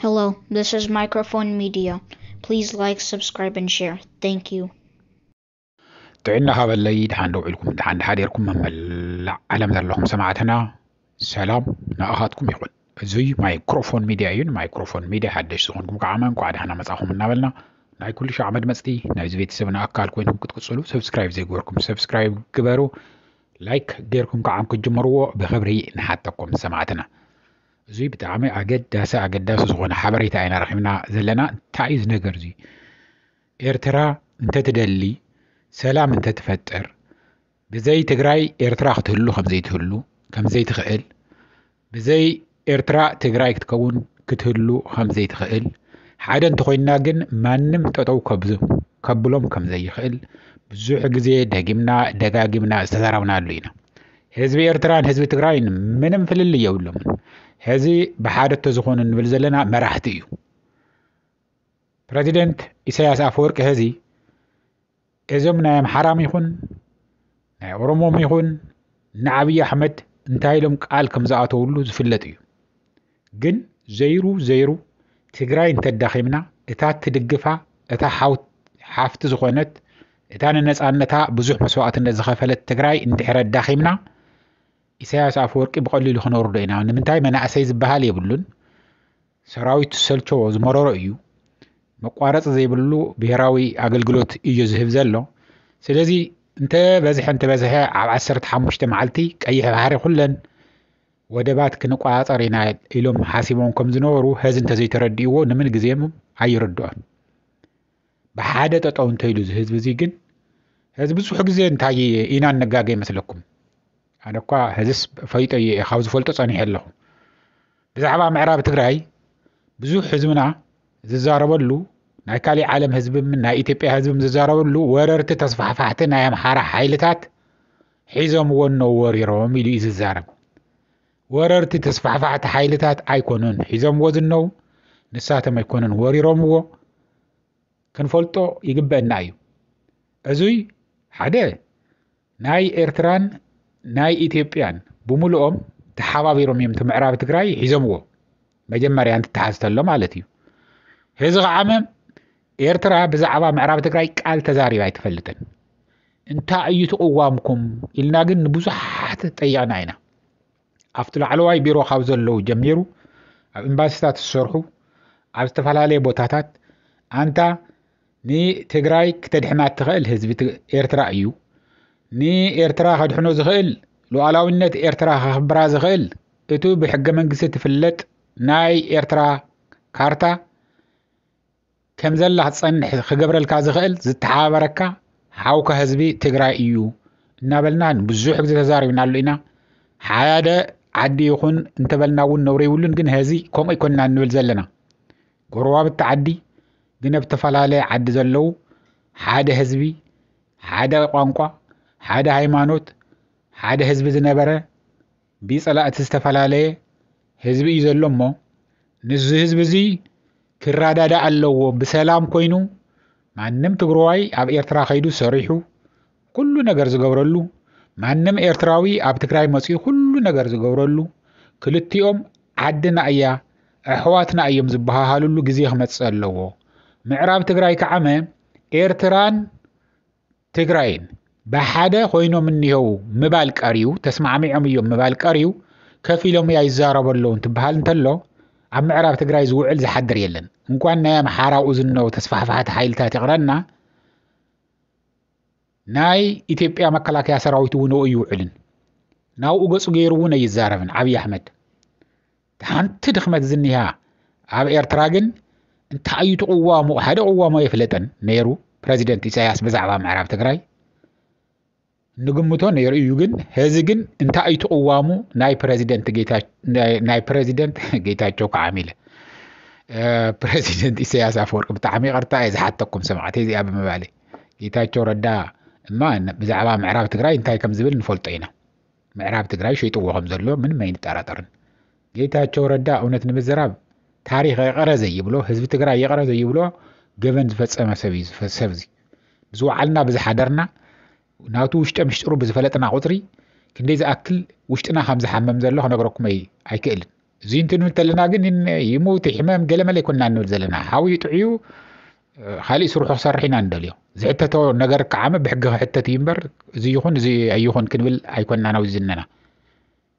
Hello, this is Microphone Media. Please like, subscribe, and share. Thank you. ጥዕና ሃበለይ ድሓን ዶ ውዒልኩም ድሓን ድሓደርኩም መመላእ ዓለም ዘለኹም ሰማዕትና ሰላም ንኣኻትኩም ይኹን እዙይ ማይክሮፎን ሚድያ እዩ ንማይክሮፎን ሚድያ ሓደሽ ዝኾንኩም ከዓ እንኳዕ ድሓና መፃኹም እናበልና ናይ ኩሉ ሻዕ መድመፅቲ ናይዚ ቤተሰብና ኣካል ኮይንኩም ክትቅፅሉ ሰብስክራይብ ዘይገበርኩም ሰብስክራይብ ግበሩ ላይክ ገርኩም ክዓ ክትጅምርዎ ብክብሪ ንሓተኩም ሰማዕትና። እዙይ ብጣዕሚ ኣገዳሲ ኣገዳሲ ዝኾነ ሓበሬታ ኢና ረኺብና ዘለና እንታይ እዩ ዝነገር እዙይ ኤርትራ እንተትደሊ ሰላም እንተትፈጥር ብዘይ ትግራይ ኤርትራ ክትህሉ ከምዘይትህሉ ከምዘይትኽእል ብዘይ ኤርትራ ትግራይ ክትከውን ክትህሉ ከምዘይትኽእል፣ ሓደ እንተኾይንና ግን ማንም ጠጠው ከብሎም ከምዘይኽእል ብዙሕ ግዜ ደጊምና ደጋጊምና ዝተዛረብናሉ ኢና። ህዝቢ ኤርትራን ህዝቢ ትግራይን ምንም ፍልልይ የብሎምን። ሕዚ ብሓደ እንተዝኾኑ ንብል ዘለና መራሕቲ እዩ። ፕረዚደንት ኢሳያስ ኣፈወርቂ ሕዚ እዞም ናይ ኣምሓራም ይኹን ናይ ኦሮሞም ይኹን ንኣብዪ ኣሕመድ እንታይ ኢሎም ቃል ከም ዝኣተውሉ ዝፍለጥ እዩ ግን ዘይሩ ዘይሩ ትግራይ እንተዳኺምና እታ ትድግፋ እታ ሓፍቲ ዝኾነት እታ ንነፃነታ ብዙሕ መስዋእትነት ዝኸፈለት ትግራይ እንድሕረ ኣዳኺምና ኢሳያስ ኣፈወርቂ ብቐሊሉ ክነወርዶ ኢና ንምንታይ መናእሰይ ዝበሃል የብሉን ሰራዊት ዝሰልቸዎ ዝመረሮ እዩ መቋረፂ ዘይብሉ ብሄራዊ ኣገልግሎት እዩ ዝህብ ዘሎ ስለዚ እንተ በዝሐ እንተ በዝሐ ኣብ ዓሰርተ ሓሙሽተ መዓልቲ ቀይሕ ባሕሪ ኩለን ወደባት ክንቆፃፀር ኢና ኢሎም ሓሲቦም ከም ዝነበሩ ሀዚ እንተዘይተረዲእዎ ንምን ግዜም ኣይርድኦን ብሓደ ጠጠው እንተይሉ እዚ ህዝቢ እዚ ግን ህዚ ብዙሕ ግዜ እንታይ ኢና እነጋገ ይመስለኩም ኣነ እኳ ሕዝስ ፈይጦ እየ ካብ ዝፈልጦ ጸኒሐ ኣለኹ ብዛዕባ ምዕራብ ትግራይ ብዙሕ ህዝብና ዝዛረበሉ ናይ ካሊእ ዓለም ህዝብም ናይ ኢትዮጵያ ህዝብም ዝዛረበሉ ወረርቲ ተስፋሕፋሕቲ ናይ ኣምሓራ ሓይልታት ሒዞምዎ እነው ወሪሮም ኢሉ እዩ ዝዛረብ ወረርቲ ተስፋሕፋሕቲ ሓይልታት ኣይኮኑን ሒዞምዎ ዝነው ንሳቶም ኣይኮኑን ወሪሮምዎ ክንፈልጦ ይግበአና እዩ እዙይ ሓደ ናይ ኤርትራን ናይ ኢትዮጵያን ብምሉኦም ተሓባቢሮም እዮም እቲ ምዕራብ ትግራይ ሒዞምዎ መጀመርያ እንትተሓዝተሎ ማለት እዩ ህዚ ከዓመ ኤርትራ ብዛዕባ ምዕራብ ትግራይ ቃል ተዛሪባ ኣይትፈልጥን እንታይ እዩ ትቕዋምኩም ኢልና ግን ንብዙሓት ጠይቕና ኢና ኣብቲ ላዕለዋይ ቢሮ ካብ ዘለዉ ጀሚሩ ኣብ ኤምባሲታት ዝሰርሑ ኣብ ዝተፈላለየ ቦታታት ኣንታ ንትግራይ ክተድሕና እትኽእል ህዝቢ ኤርትራ እዩ ንኤርትራ ከድሕኖ ዝኽእል ሉዓላዊነት ኤርትራ ከኽብራ ዝኽእል እቱ ብሕገ መንግስቲ ትፍለጥ ናይ ኤርትራ ካርታ ከም ዘላ ክትጸንሕ ክገብረልካ ዝኽእል ዝተሓባበረካ ሓውካ ህዝቢ ትግራይ እዩ እናበልና ብዙሕ ግዜ ተዛሪብናሉ ኢና ሓደ ዓዲ ይኹን እንተበልና እውን ነውሪ ይብሉን ግን ሀዚ ከምኡ ይኮንና እንብል ዘለና ጎረባብቲ ዓዲ ግን ኣብ ዝተፈላለየ ዓዲ ዘለዉ ሓደ ህዝቢ ሓደ ቋንቋ ሓደ ሃይማኖት ሓደ ህዝቢ ዝነበረ ቢጸላእቲ ዝተፋላለየ ህዝቢ እዩ ዘሎ እሞ ንዚ ህዝቢ እዚ ክራዳዳእ ኣለዎ ብሰላም ኮይኑ ማንም ትግርዋይ ኣብ ኤርትራ ከይዱ ሰሪሑ ኩሉ ነገር ዝገብረሉ ማንም ኤርትራዊ ኣብ ትግራይ መፅኡ ኩሉ ነገር ዝገብረሉ ክልቲኦም ዓድና እያ ኣሕዋትና እዮም ዝበሃሃልሉ ግዜ ክመፅእ ኣለዎ ምዕራብ ትግራይ ከዓመ ኤርትራን ትግራይን ብሓደ ኮይኖም እኒሀው ምባል ቀርዩ ተስማዕሚዖም እዮም ምባል ቀርዩ ከፊሎም እያ ይዛረቡ ኣለዉ እንትበሃል እንተሎ ኣብ ምዕራብ ትግራይ ዝውዕል ዝሓድር የለን እንኳን ናይ ኣምሓራኡ ዝነው ተስፋሕፋሕቲ ሓይልታት ይቕረና ናይ ኢትዮጵያ መከላከያ ሰራዊት እውን ይውዕልን ናብኡ ገፁ ገይሩ እውን ኣይዛረብን ዓብዪ ኣሕመድ ሓንቲ ድኽመት ዝኒሃ ኣብ ኤርትራ ግን እንታይ እዩ ትቕዋሙ ሓደ ቅዋሙ ኣይፍለጥን ነይሩ ፕረዚደንት ኢሳያስ ብዛዕባ ምዕራብ ትግራይ ንግምቶ ነይሩ እዩ ግን ህዚ ግን እንታይ እዩ ትቕዋሙ ናይ ፕረዚደንት ናይ ፕረዚደንት ጌታቸው ክዓሚ ኢለ ፕረዚደንት ኢሳያስ ኣፈወርቂ ብጣዕሚ ይቕርታ እየ ዝሓተኩም ሰማዕቲ እዚኣ ብምባለ ጌታቸው ረዳ እማ ብዛዕባ ምዕራብ ትግራይ እንታይ ከም ዝብል ንፈልጦ ኢና ምዕራብ ትግራይ ሸይጥዎ ከምዘሎ ምንም ኣይንጠራጠርን። ጌታቸው ረዳ እውነት ንምዝራብ ታሪኽ ይቕረ ዘይብሎ ህዝቢ ትግራይ ይቕረ ዘይብሎ ገበን ዝፈፀመ ሰብ እዩ ሰብ እዚ ብዝወዓልና ብዝሓደርና ናቱ ውሽጠ ምሽጥሩ ብዝፈለጥና ቁፅሪ ክንደይ ዝኣክል ውሽጥና ከም ዝሓመም ዘሎ ክነግረኩም ኣይክእልን እዚ እንትንብል እንተለና ግን ይምውት ይሕመም ገለመለ ይኮንና ንብል ዘለና ሓዊ ጥዕዩ ካሊእ ስርሑ ክሰርሕ ኢና ንደልዮ ዝሕተቶ ነገር ከዓመ ብሕጊ ክሕተት እዩ እምበር እዚ ይኹን እዚ ኣይኹን ክንብል ኣይኮንና ናብ ዝነና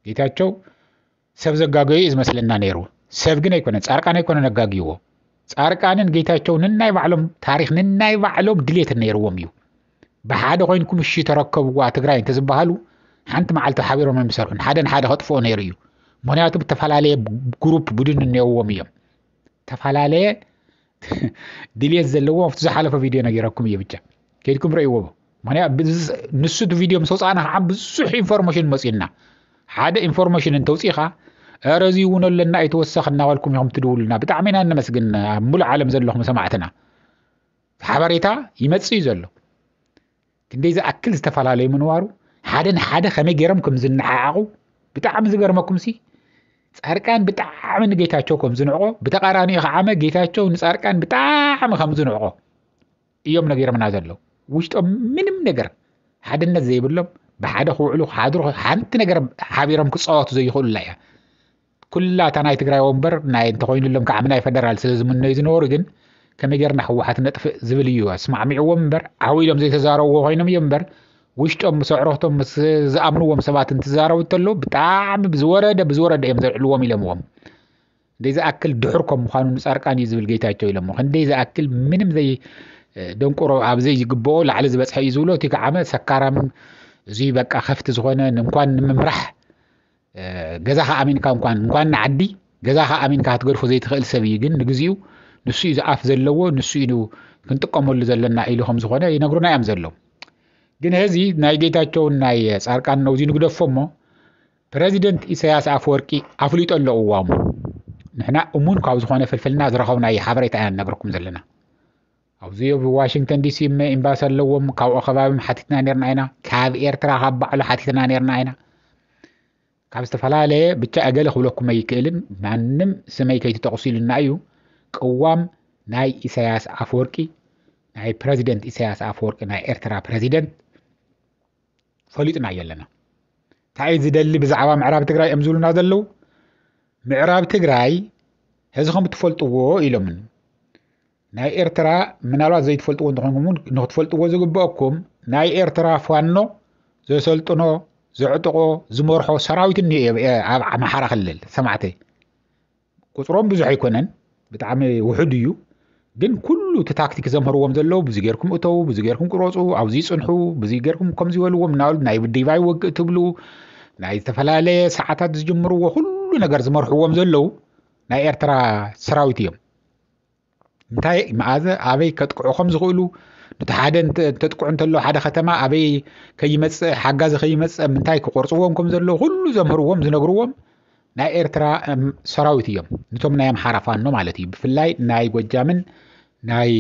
ጌታቸው ሰብ ዘጋገዩ እዩ ዝመስለና ነይሩ ሰብ ግን ኣይኮነ ፃርቃን ኣይኮነ ነጋግይዎ ፃርቃንን ጌታቸው ንናይ ባዕሎም ታሪክ ንናይ ባዕሎም ድሌት ነይርዎም እዩ ብሓደ ኮይንኩም እሺ ተረከብዋ ትግራይ እንተዝበሃሉ ሓንቲ መዓልቲ ሓቢሮም ኣይምሰርሑን ሓደ ንሓደ ከጥፍኦ ነይሩ እዩ ምክንያቱ ዝተፈላለየ ግሩፕ ቡድን እነዎም እዮም ዝተፈላለየ ድልት ዘለዎ ኣብቲ ዝሓለፈ ቪድዮ ነገረኩም እየ ብቻ ከድኩም ረእይዎ ንሱ እቲ ቪድዮ ምስ ወፃእና ከዓ ብዙሕ ኢንፎርሜሽን መፅዩና ሓደ ኢንፎርሜሽን እንተውፅኢካ ረ እዚ እውን ኣለና ኣይተወሰኽ እናበልኩም ኢኹም ትድውሉና ብጣዕሚ ኢና እነመስግን ኣብ ሙሉእ ዓለም ዘለኹም ሰማዕትና ሓበሬታ ይመጽእ እዩ ዘሎ ክንደይ ዝኣክል ዝተፈላለዩ ምንዋሩ ሓደ ንሓደ ከመይ ገይሮም ከም ዝነዓዓቑ ብጣዕሚ ዝገርመኩም ሲ ፃርቃን ብጣዕሚ ንጌታቸው ከም ዝንዕቆ ብተቃራኒ ከዓመ ጌታቸው ንፃርቃን ብጣዕሚ ከም ዝንዕቆ እዮም ነጊሮምና ዘለዉ ውሽጦም ምንም ነገር ሓድነት ዘይብሎም ብሓደ ክውዕሉ ክሓድሩ ሓንቲ ነገር ሓቢሮም ክፃወቱ ዘይኽእሉላ እያ ኩላ እታ ናይ ትግራይ ወንበር ናይ እንተኾይኑሎም ከዓም ናይ ፈደራል ስለ ዝምነዩ ዝነበሩ ግን ከመይ ጌርና ህወሓት ነጥፍእ ዝብል እዩ ኣስማዕሚዕዎም እምበር ዓው ኢሎም ዘይተዛረብዎ ኮይኖም እዮም እምበር ውሽጦም ምስ ኣዕሩኽቶም ምስ ዝኣምንዎም ሰባት እንትዛረቡ እንተሎ ብጣዕሚ ብዝወረደ ብዝወረደ እዮም ዘልዕልዎም ኢሎምዎም እንደይ ዝኣክል ድሑር ከም ምዃኑ ንፃርቃን እዩ ዝብል ጌታቸው ኢሎሞ ክንደይ ዝኣክል ምንም ዘይ ደንቆሮ ኣብ ዘይግብኦ ላዕሊ ዝበፅሐ እዩ ዝብሎ እቲ ከዓመ ሰካራም እዙይ በቃ ከፍቲ ዝኾነ እንኳን ንምምራሕ ገዛኻ ኣሚንካ እንኳን እንኳን ንዓዲ ገዛኻ ኣሚንካ ክትገድፎ ዘይትኽእል ሰብ እዩ ግን ንግዚኡ ንሱ እዩ ዝኣፍ ዘለዎ ንሱ እዩ ክንጥቀመሉ ዘለና ኢሉ ከም ዝኾነ ይነግሩና እዮም ዘለዉ ግን እዚ ናይ ጌታቸውን ናይ ፃርቃን ነው እዚ ንግደፎ እሞ ፕረዚደንት ኢሳያስ ኣፈወርቂ ኣፍሊጦ ኣሎ እዋሙ ንሕና እሙን ካብ ዝኾነ ፍልፍልና ዝረኸብናዮ ሓበሬታ ኢና ንነግረኩም ዘለና ኣብዚ እብ ዋሽንግተን ዲሲ እመ ኤምባሲ ኣለዎም ካብኦ ከባቢም ሓቲትና ነርና ኢና ካብ ኤርትራ ካብ ባዕሉ ሓቲትና ነርና ኢና ካብ ዝተፈላለየ ብቻ እገለ ክብለኩም ኣይክእልን ማንም ስመይ ከይትጠቕሱ ኢልና እዩ ቅዋም ናይ ኢሳያስ ኣፈወርቂ ናይ ፕረዚደንት ኢሳያስ ኣፈወርቂ ናይ ኤርትራ ፕረዚደንት ፈሊጥና እዮ ኣለና እንታይ ዝደሊ ብዛዕባ ምዕራብ ትግራይ እዮም ዝብሉና ዘለዉ ምዕራብ ትግራይ ሕዚ ከም እትፈልጥዎ ኢሎምን ናይ ኤርትራ ምናልባት ዘይትፈልጥዎ እንተኾንኩም ንክትፈልጥዎ ዝግበአኩም ናይ ኤርትራ ፋኖ ዘሰልጥኖ ዘዕጥቆ ዝመርሖ ሰራዊት እኒ ኣብ ኣምሓራ ክልል ሰማዕተይ ቁፅሮም ብዙሕ ኣይኮነን ብጣዕሚ ውሑድ እዩ ግን ኩሉ እቲ ታክቲክ ዘምህርዎም ዘለዉ ብዚ ጌርኩም እተዉ ብዚ ጌርኩም ቅረፁ ኣብዚ ፅንሑ ብዚ ጌርኩም ከምዚ በልዎም እናበሉ ናይ ዲቫይ ወግእ ትብሉ ናይ ዝተፈላለየ ሰዓታት ዝጅምርዎ ኩሉ ነገር ዝመርሕዎም ዘለዉ ናይ ኤርትራ ሰራዊት እዮም እንታይ መኣዘ ኣበይ ከጥቅዑ ከም ዝኽእሉ ነቲ ሓደ እንተጥቅዑ እንተሎ ሓደ ከተማ ኣበይ ከይመፅእ ሓጋዚ ከይመፅእ ምንታይ ክቆርፅዎም ከም ዘለዎ ኩሉ ዘምህርዎም ዝነግርዎም ናይ ኤርትራ ሰራዊት እዮም ንቶም ናይ ኣምሓራ ፋኖ ማለት እዩ ብፍላይ ናይ ጎጃምን ናይ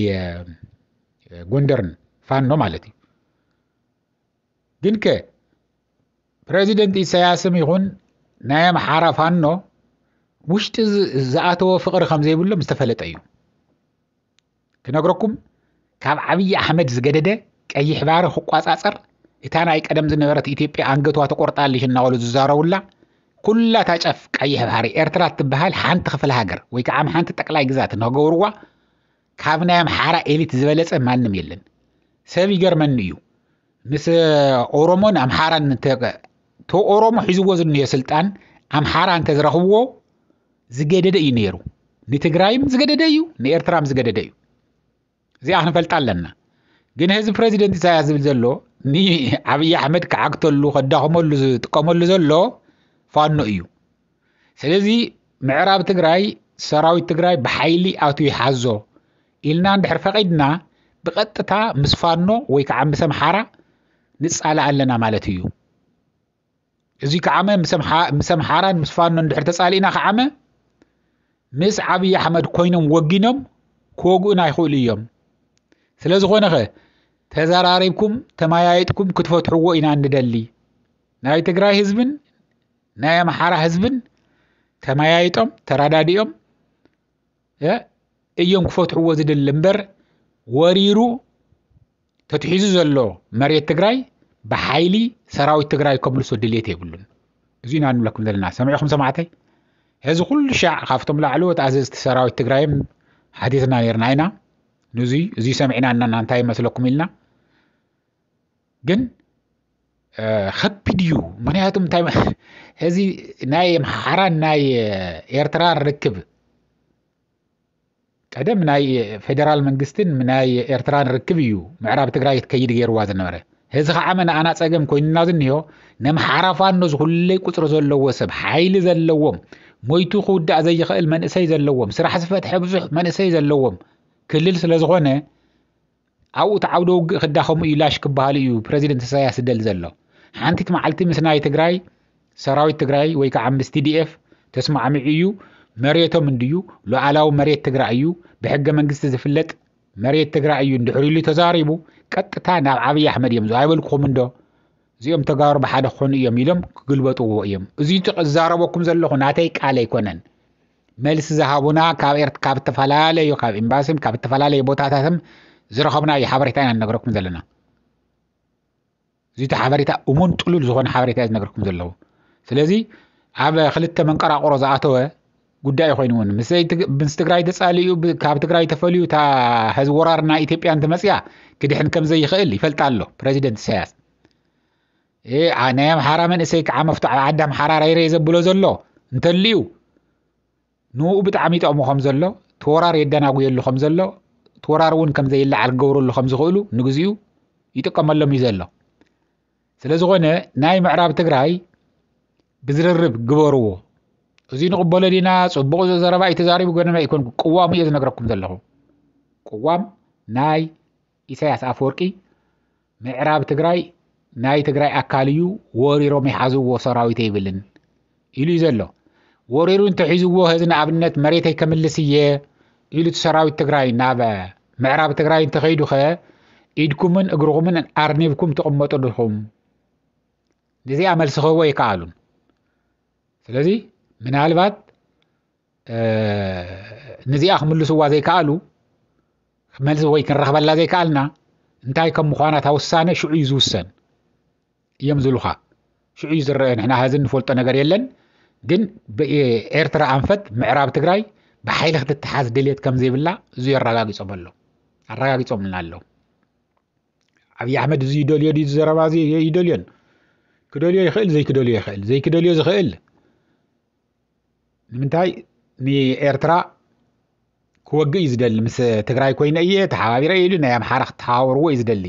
ጎንደርን ፋኖ ማለት እዩ ግን ከ ፕረዚደንት ኢሳያስም ይኹን ናይ ኣምሓራ ፋኖ ውሽጢ ዝኣተወ ፍቕሪ ከም ዘይብሎም ዝተፈለጠ እዩ ክነግረኩም ካብ ዓብዪ ኣሕመድ ዝገደደ ቀይሕ ባሕሪ ክቋፃፀር እታ ናይ ቀደም ዝነበረት ኢትዮጵያ ኣንገቷ ተቆርጣልሽ እናበሉ ዝዛረቡላ ኩላ እታ ጫፍ ቀይሕ ባሕሪ ኤርትራ እትበሃል ሓንቲ ክፍለ ሃገር ወይ ከዓ ሓንቲ ጠቅላይ ግዛት እናገበርዋ ካብ ናይ ኣምሓራ ኤሊት ዝበለፀ ማንም የለን። ሰብ ይገርመኒ እዩ ምስ ኦሮሞን ኣምሓራን ቶ ኦሮሞ ሒዝዎ ዝንዮ ስልጣን ኣምሓራ እንተዝረኽብዎ ዝገደደ እዩ ነይሩ። ንትግራይም ዝገደደ እዩ፣ ንኤርትራም ዝገደደ እዩ። እዚኣ ክንፈልጣ ኣለና። ግን ህዝቢ ፕረዚደንት ኢሳያስ ዝብል ዘሎ ንኣብዪ ኣሕመድ ክዓግተሉ ከዳኽመሉ ዝጥቀመሉ ዘሎ ፋኖ እዩ። ስለዚ ምዕራብ ትግራይ ሰራዊት ትግራይ ብሓይሊ ኣቱ ይሓዞ ኢልና እንድሕር ፈቒድና ብቐጥታ ምስ ፋኖ ወይ ከዓ ምስ ኣምሓራ ንፃላእ ኣለና ማለት እዩ እዚ ከዓመ ምስ ኣምሓራን ምስ ፋኖ እንድሕር ተፃሊእና ከዓመ ምስ ዓብዪ ኣሕመድ ኮይኖም ወጊኖም ክወግኡና ይኽእሉ እዮም ስለ ዝኾነ ኸ ተዘራሪብኩም ተመያየጥኩም ክትፈትሕዎ ኢና ንደሊ ናይ ትግራይ ህዝብን ናይ ኣምሓራ ህዝብን ተመያይጦም ተረዳዲኦም እዮም ክፈትሕዎ ዝደሊ እምበር ወሪሩ ተትሒዙ ዘሎ መሬት ትግራይ ብሓይሊ ሰራዊት ትግራይ ከምልሶ ድሌት የብሉን እዚ ኢና ንብለኩም ዘለና ሰሚዕኹም ሰማዕተይ ሕዚ ኩሉ ሻዕ ካብቶም ላዕለዎት ኣዘዝቲ ሰራዊት ትግራይም ሓቲትና ነርና ኢና ንዙይ እዙይ ሰሚዕና እናና እንታይ ይመስለኩም ኢልና ግን ከቢድ እዩ ምክንያቱ እንታይ እዚ ናይ ኣምሓራን ናይ ኤርትራን ርክብ ቀደም ናይ ፌደራል መንግስትን ናይ ኤርትራን ርክብ እዩ ምዕራብ ትግራይ ትከይድ ገይርዋ ዝነበረ እዚ ከዓ መናኣና ፀገም ኮይኑና ዝኒሆ ነምሓራ ፋኖ ዝኩለይ ቁፅሪ ዘለዎ ሰብ ሓይሊ ዘለዎም ሞይቱ ክውዳእ ዘይኽእል መንእሰይ ዘለዎም ስራሕ ዝፈትሐ ብዙሕ መንእሰይ ዘለዎም ክልል ስለዝኾነ ኣብኡ እቲ ዓውደ ውግእ ክዳኸሙ እዩ ላሽ ክበሃሉ እዩ ፕረዚደንት ኢሳያስ ዝደል ዘሎ ሓንቲት መዓልቲ ምስ ናይ ትግራይ ሰራዊት ትግራይ ወይ ከዓ ምስ ቲዲኤፍ ተስማዕሚዑ እዩ መሬቶም እንድዩ ሉዓላዊ መሬት ትግራይ እዩ ብሕገ መንግስቲ ዝፍለጥ መሬት ትግራይ እዩ እንድሕር ኢሉ ተዛሪቡ ቀጥታ ናብ ዓብዪ ኣሕመድ እዮም ኣይበልኩኹም እንዶ እዚኦም ተጋሩ ብሓደ ክኾኑ እዮም ኢሎም ክግልበጥዎ እዮም እዚ እዛረበኩም ዘለኹ ናተይ ቃል ኣይኮነን መልሲ ዝሃቡና ካብ ካብ እተፈላለዩ ካብ ኤምባሲን ካብ እተፈላለዩ ቦታታትን ዝረኸብናዩ ሓበሬታ ኢና ንነገረኩም ዘለና እዚቲ ሓበሬታ እሙን ጥሉል ዝኾነ ሓበሬታ እዩ ዝነገርኩም ዘለዉ ስለዚ ኣብ ክልተ መንቀራቁሮ ዝኣተወ ጉዳይ ኮይኑ እውን ምስ ትግራይ ተፃሊኡ ካብ ትግራይ ተፈልዩ እታ ህዚ ወራር ናይ ኢትዮጵያ እንትመፅያ ክድሕን ከም ዘይኽእል ይፈልጣ ኣሎ ፕረዚደንት ኢሳያስ ናይ ኣምሓራ መንእሰይ ከዓ መፍትዖ ዓዲ ኣምሓራ ራይረይ ዘብሎ ዘሎ እንተልዩ ንኡ ብጣዕሚ ይጠቕሙ ከም ዘሎ ተወራር የደናጉየሉ ከም ዘሎ ተወራር እውን ከም ዘይለዓል ክገብረሉ ከም ዝኽእሉ ንግዚኡ ይጥቀመሎም እዩ ዘሎ ስለ ዝኾነ ናይ ምዕራብ ትግራይ ብዝርርብ ግበርዎ እዚ ንቕበሎ ዲና ፅቡቕ ዘረባ እዩ ተዛሪቡ ገነና ይኮን ቅዋሙ እየ ዝነግረኩም ዘለኹ ቅዋም ናይ ኢሳያስ ኣፍወርቂ ምዕራብ ትግራይ ናይ ትግራይ ኣካል እዩ ወሪሮም ይሓዝዎ ሰራዊት የብልን ኢሉ እዩ ዘሎ ወሪሩ እንተሒዝዎ ህዚ ንኣብነት መሬተይ ከምልስ እየ ኢሉ እቲ ሰራዊት ትግራይ ናብ ምዕራብ ትግራይ እንተኸይዱ ኸ ኢድኩምን እግርኹምን ኣርኒብኩም ትቕመጡ ድኹም ንዚኣ መልሲ ክህቦ ኣይከኣሉን ስለዚ ምናልባት ንዚኣ ክምልስዋ ዘይከኣሉ መልሲ ወይ ክንረኽበላ ዘይከኣልና እንታይ ከም ምዃና እታ ውሳነ ሽዑ እዩ ዝውሰን እዮም ዝብሉኻ ሽዑ እዩ ዝረአ ንሕና ሀዚ ንፈልጦ ነገር የለን ግን ኤርትራ ኣንፈት ምዕራብ ትግራይ ብሓይሊ ክትተሓዝ ድልት ከም ዘይብላ እዙ ኣረጋጊፆም ኣሎ ኣረጋጊፆምልና ኣሎ ዓብዪ ኣሕመድ እዚ ይደልዮ ዩ ዘረባ ይደልዮን ክደልዮ ይኽእል ዘይክደልዮ ይኽእል ዘይክደልዮ ዝኽእል ንምንታይ ንኤርትራ ክወግእ እዩ ዝደሊ ምስ ትግራይ ኮይነ እየ ተሓባቢረ ኢሉ ናይ ኣምሓራ ክተሓባበርዎ እዩ ዝደሊ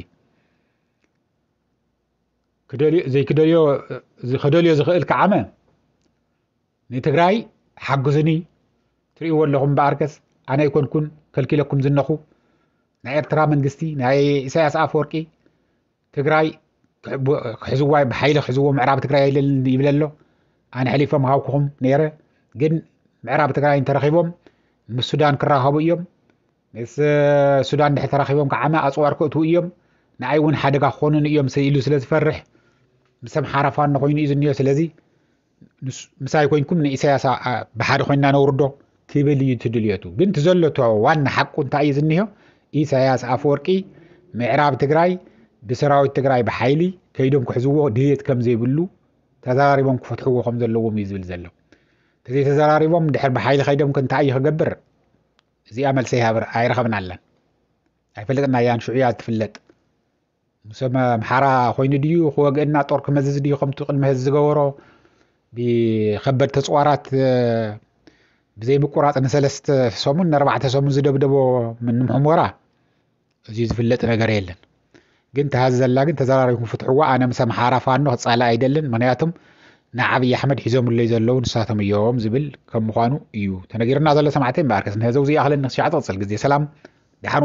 ዘይክደልዮ ከደልዮ ዝኽእል ከዓመ ንትግራይ ሓግዙኒ ትርእይዎ ኣለኹም በኣርከስ ኣነ ኣይኮንኩን ከልኪለኩም ዝነኹ ናይ ኤርትራ መንግስቲ ናይ ኢሳያስ ኣፈወርቂ ትግራይ ክሕዝዋ ብሓይሊ ክሕዝዎ ምዕራብ ትግራይ የለልን ይብለ ኣሎ ኣነ ሕሊፎም ሃውክኹም ነይረ ግን ምዕራብ ትግራይ እንተረኺቦም ምስ ሱዳን ክራኸቡ እዮም ምስ ሱዳን ድሕር ተራኺቦም ከዓመ ኣፅዋር ክእትዉ እዮም ንኣይ እውን ሓደጋ ክኾኑን እዮም ኢሉ ስለ ዝፈርሕ ምስ ኣምሓራ ፋኖ ኮይኑ እዩ ዝኒኦ ስለዚ ምሳይ ኮይንኩም ንኢሳያስ ብሓደ ኮይንና ነውርዶ ክብል እዩ ትድልየቱ ግን ትዘለቶ ዋና ሓቁ እንታይ እዩ ዝኒሆ ኢሳያስ ኣፈወርቂ ምዕራብ ትግራይ ብሰራዊት ትግራይ ብሓይሊ ከይዶም ክሕዝዎ ድልት ከም ዘይብሉ ተዘራሪቦም ክፈትሕዎ ከም ዘለዎም እዩ ዝብል ዘሎ እዘይ ተዘራሪቦም ድሕር ብሓይሊ ከይዶም ክንታይ እዩ ክገብር እዚኣ መልሰ ይሃብር ኣይረኸብና ኣለን ኣይፈልጥና እያን ሽዑ እያ ትፍለጥ ሰብ ኣምሓራ ኮይኑ ድዩ ክወግእና ጦር ክመዝዝ ድዩ ከምቲ ቅድሚ ህዚ ዝገበሮ ብከበድቲ ኣፅዋራት ብዘይምቁራፅ ንሰለስተ ሰሙን ንኣርባዕተ ሰሙን ዝደብደቦ ምንም ሕሞራ እዚዩ ዝፍለጥ ነገር የለን ግን ተሃዚ ዘላ ግን ተዘራሪኹም ፍትሕዋ ኣነ ምስ ኣምሓራ ፋኖ ክፃላእ ኣይደልን ምክንያቱም ንዓብዪ ኣሕመድ ሒዞምለይ ዘለዉ ንሳቶም እዮም ዝብል ከም ምዃኑ እዩ ተነጊርና ዘሎ ሰማዕተይ እምበኣርከስ ንህዘው ዘይኣኽለኒ ክሸዓ ትቕፅል ግዜ ሰላም ደሓን